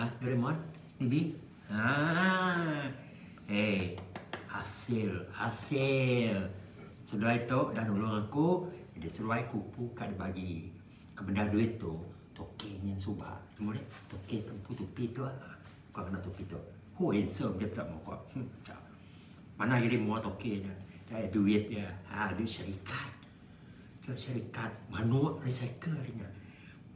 Hah gerai mod TV Haa Ei Hasil Hasil Seduai tu dah nulung aku Jadi seduai kupu ka dibagi Kebendar duit tu Toke nyin suba Temu ulih Toke tempu tupi tu haa Ku ngena tupi tu Ho handsome dia peda muka Hm Chap Mana gerai mua toke nya Duit dia Haa duit syarikat ke syarikat manuk recycle ari nya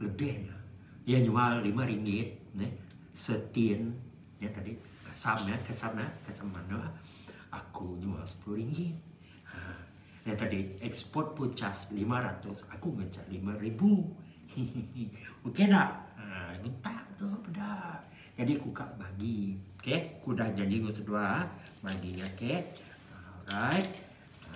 lebih nya iya nyual lima ringgit neh setin nya tadi kasam nya kasam nya kasam manuk aku nyual sepuluh ringgit ha nya tadi eksport pun cas lima ratus aku ngecas lima ribu hehehe ok dah ha minta tu peda jadi ku ka bagi ok ku dah janji enggau seduai bagi ok alright ha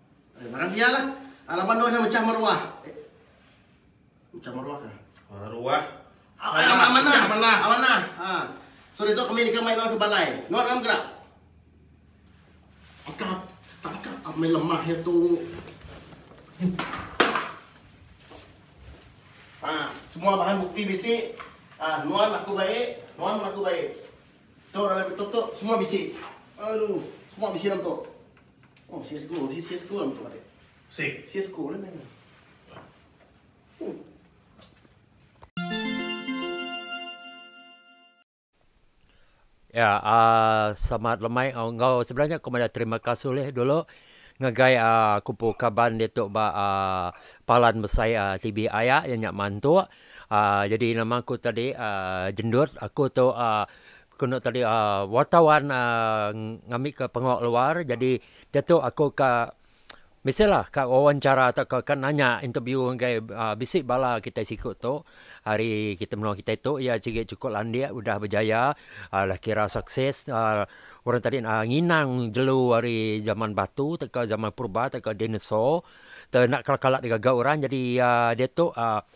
Ngarang iya lah. Laban dua nya mechah meruah. Mechah meruah kah? Meruah. Amanah. Amanah. Amanah. Ha. So ditu kami deka mai nuan ke balai. Nuan ngam gerak. Tangkap. Tangkap. Apa main lemah ya tu. Ha. Semua bahan bukti bisi. Ha. Nuan aku baik. Nuan pun aku baik. Tu dalam betul tu semua bisi. Aduh. Semua bisi dalam tu. Oh, sia school. Di sia school tu ada. Sik. Sia school ni. Ya, uh, selamat lemai uh, enggau sebenarnya aku mada terima kasih leh dulu ngagai uh, kupu kaban dia tu ba uh, palan besai uh, TV aya yang nyak mantuk. Uh, jadi nama aku tadi uh, jendut aku tu uh, Ku enda tadi wartawan ngambika pengawa luar jadi diatu aku ka biasalah ka wawancara tauka ka nanya interview ngagai bisi bala kitai siku tu ari menua kitai tu iya sigi chukup landik udah bejaya udah kira sukses orang tadi nginang jelu ari zaman batu tauka zaman purba tauka dinosaur tau enda kala-kala digaga orang jadi iya diatu.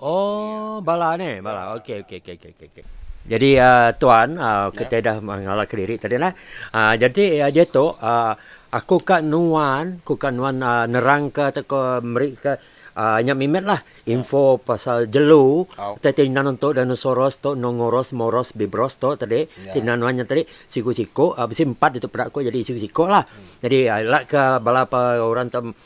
Oh bala ne bala ok ok ok ok ok ok. Jadi uh, tuan uh, kita dah mengalah kediri tadi lah. Uh, jadi uh, dia tu uh, aku ka nuan, aku ka nuan uh, nerang ke atau ke meri ke uh, nya mimet lah info yeah. pasal jelu oh. tadi tina nuan tu dinosaurus tu nongoros moros bibros tu tadi yeah. tina nuan nya tadi siku-siku uh, bisi empat itu peda aku jadi siku-siku lah. Hmm. Jadi uh, lah ke bala orang tu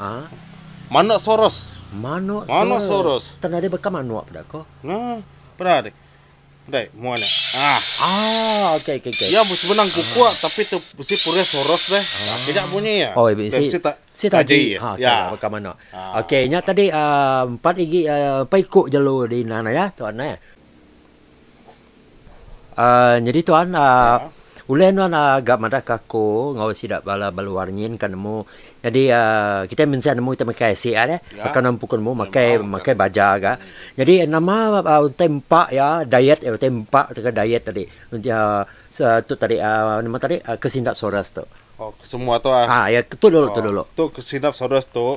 Haa. Manok soros. Manok soros. Manok soros. Tang nadai baka manok peda ko. Nah. Peda deh. Dai, mua nya. Ah. Ah, okey okey okey. Ya sebenang kuku ah. tapi tu besi purih soros deh. Ah. Kejak bunyi ya. Oh, ibu si. Si tak. Si tak jadi. Ha, ya. Kau kau mana? Ah. Okey, nya tadi ah, empat gigi ah, empat ikut jalur di nang ya, tuan eh. Aaa nyadi tuan aaa ulih nuan aaa ga madah ke aku enggau sida bala beluar nyin ka nemu nyadi aaa kitai mensia nemu kitai makai isi ai deh baka nuan empu ku nemu makai makai baja ga nyadi nama aaa utai empa iya diet iya utai empa tauka diet tadi udah se tu tadi aaa nama tadi kesindap soras tu. Oh kesemua tu ah. Ah iya tu dulu tu dulu. Tu kesinap soras tu.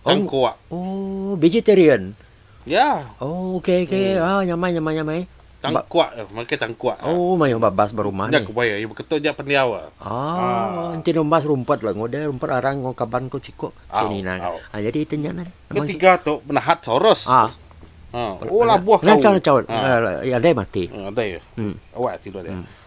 Oh. Tangkuak. Oh, vegetarian. Ya. Oh, okey okey. Hmm. Ah, nyamai nyamai nyamai. Tangkuak, eh, makan tangkuak. ah. Oh, mayuh babas berumah Nya ni. ku bayar, ibu ketuk nya pendiau. ah. Ah, enti numbas rumput lah ngoda rumput arang ngau kaban ko siko. Au, Sini nang. au. Ah, jadi itu nya nan. Amang si- Ketiga tu penahat Soros. Ah. Ha. Oh labuh kau. Ngacau ngacau. Ha. Ah, ada yang mati. Hmm, ada ya. Hmm. Awak tidur dia. Hmm.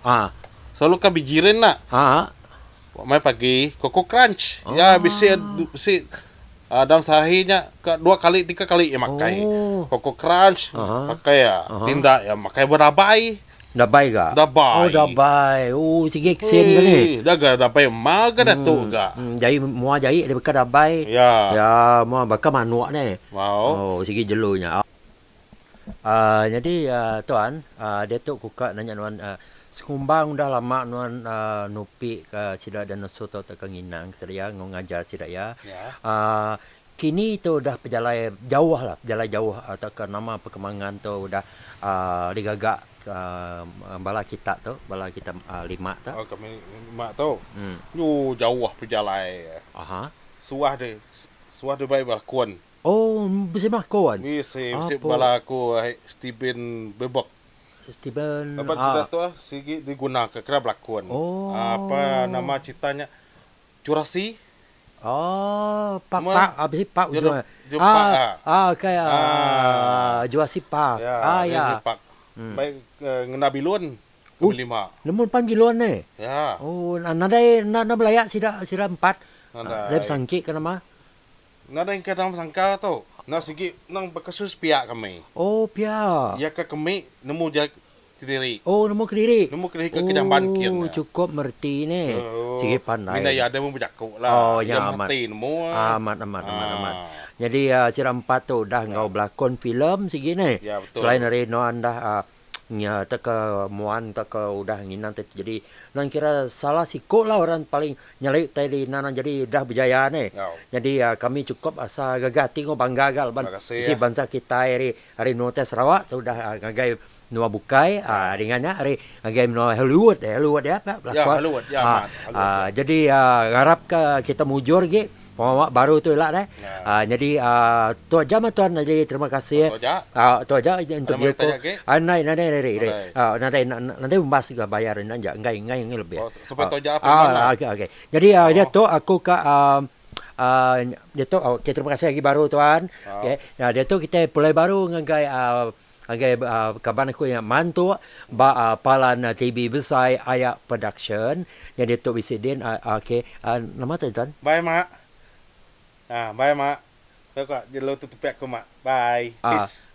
Ah. Selalu ka bejiran enda? Ah. Ba mai pagi, Koko Crunch. Oh. Ya bisi bisi uh, dalam sehari nya ke dua kali tiga kali ia makai. Oh. Koko Crunch uh -huh. pakai ya. Uh -huh. Tindak ya makai berabai. Dabai ga. Dabai. Oh dabai. Oh sigi kesen ga ni. Dah ga dabai ma ga dah tu ga. Hmm, hmm jai mua jai ada beka dabai. Ya. Ya, mua baka manuk ni. Wow. Oh sigi jelu nya. Aaa nyadi aaa tuan aaa diatu ku ka nanya nuan aaa sekumbang udah lama nuan aaa nupi ka sida dinosaur tu tauka nginang ka sida iya enggau ngajar sida iya aaa kini tu udah pejalai jauh lah pejalai jauh tauka nama perkembangan tu udah aaa digaga aaa bala kita tu bala kita aaa lima tu. Oh kami lima tu. Yu jauh pejalai. Aha. Suah deh suah deh bai belakon. Oh bisi bako an. Bisi bisi bala aku ai Steven bebek. Steven Laban cerita ah. tu sigi digunaka kena belakon. Apa nama cerita nya curasi. Oh pa pa ah bisi pa ujung eh. Ah okay ah jurasi pa ah ya. Baik ngena bilun kami lima. Nemu pan bilun ne. Oh nadai enda belaya sida sida empat. Nadai besangki ke nama. Nadai engka dalam sangka tu. Enda sigi nang bekesus pia kami. Oh pia. Iya ka kemi nemu ja kediri. Oh nemu kediri. Nemu kediri ka ke jamban kin. Oh cukup mereti ne. Sigi pandai. Mina iya deh mun bejaku la. Oh nya amat. Iya mati nemu. Amat amat amat amat. Nyadi sida empat tu udah enggau belakon filem sigi ne. Iya betul. Selain ari nuan dah nya teka muan teka udah nginan ti jadi nan kira salah siko lah orang paling nyali utai di ina nan jadi udah bejaya ni jadi kami cukup asa gaga ati enggau bangga ga laban bisi bansa kitai ri ari menua utai sarawak tu udah ngagai menua bukai dengan nya ari ngagai menua hollywood hollywood nya ape belakon jadi ngarap ka kita mujur gi. Pengawa baru tu ila deh. Yeah. Nyadi tu aja mah tuan nyadi terima kasih. Tu aja. Tu aja interview ko. Nadai nadai ri ri. Nadai nadai umbas ga bayar enda ja enggai enggai enggai lebih. Supai tu aja firman lah. Okey okey. Nyadi nya tu aku ka nya tu terima kasih agi baru tuan. Okey. Nya tu kita pulai baru ngagai Ngagai kaban aku nya mantuk ba palan TV besai aya production nyadi tu bisi din ok nama tu intan. Bye mak ah bye mak aku ka jelu tu tepi aku mak bye peace.